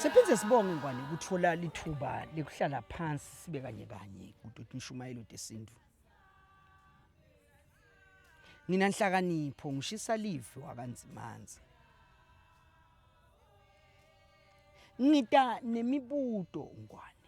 Siphinde sibonge Ngwane ukuthola lithuba lekuhlala phansi sibe kanye kanye kuDoti Mshumayeli uDesintu. Nina nhlakanipho ngishisa live wakanzimanzi. Ngita nemibuto Ngwane.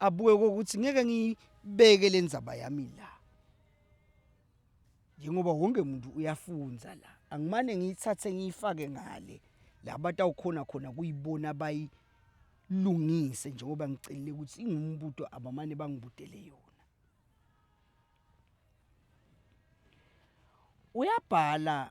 abuke ukuthi ngeke ngibeke le ndzaba yami la njengoba wonke muntu uyafunza la angimane ngiyithathe ngiyifake ngale la batawukhona khona kuyibona bayilungise njengoba ngicelile ukuthi ingumbuto abamane bangibudele yona uyabhala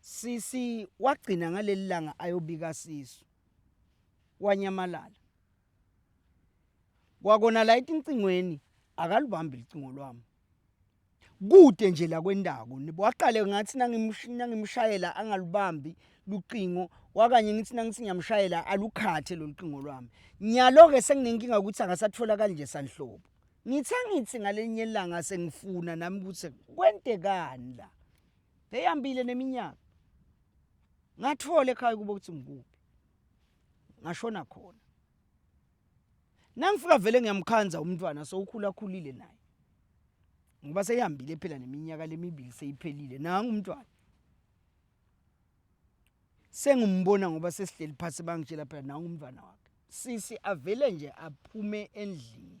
Sisi wagcina ngaleli langa ayobika sisu wanyamalala kwakona la etincingweni akalubambi licingo lwami kude nje la kwendawo waqale ngathi nangimshayela angalubambi lucingo wakanye ngithi nangithi ngiyamshayela alukhathe lolu cingo lwami nyalo-ke senginenkinga ukuthi angasatholakali nje sanhlobo ngithe ngithi ngalenye ilanga sengifuna nami ukuthi kwentekani la Eyambile neminyaka. Ngathola ekhaya kubo ukuthi ngikuphi. Ngashona khona. Nangifika vele ngiyamkhanza umntwana sowukhula khulile naye. Ngoba seyihambile phela neminyaka lemibili seyiphelile nangu umntwana. Sengimbona ngoba sesihleli phansi bangitshela phela nangu umntwana wakhe. Sisi avele nje aphume endlini.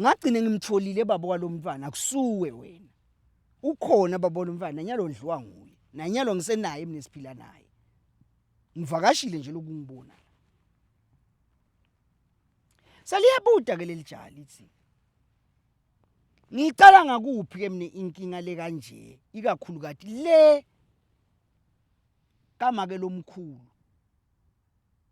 Ngagcine ngimtholile baba walomntwana akusuwe wena. Ukhona baba walomntwana nanyalo ndliwa nguye. Nanyalo ngisenaye mina siphila naye. Ngivakashile nje lokungibona. Seliyabuda ke lelijali lithi Ngicala ngakuphi ke mina inkinga le kanje ikakhulu kati le kamake lomkhulu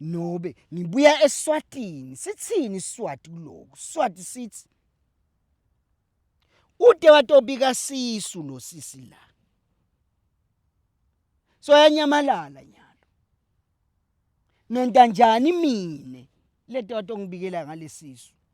Nobe ngibuya eSwatini sithini iSwati kuloku Swati sithi Ude watobika sisu lo sisi la So yanyamalala nyalo Nontanjani mine lento watongibikela ngalesisu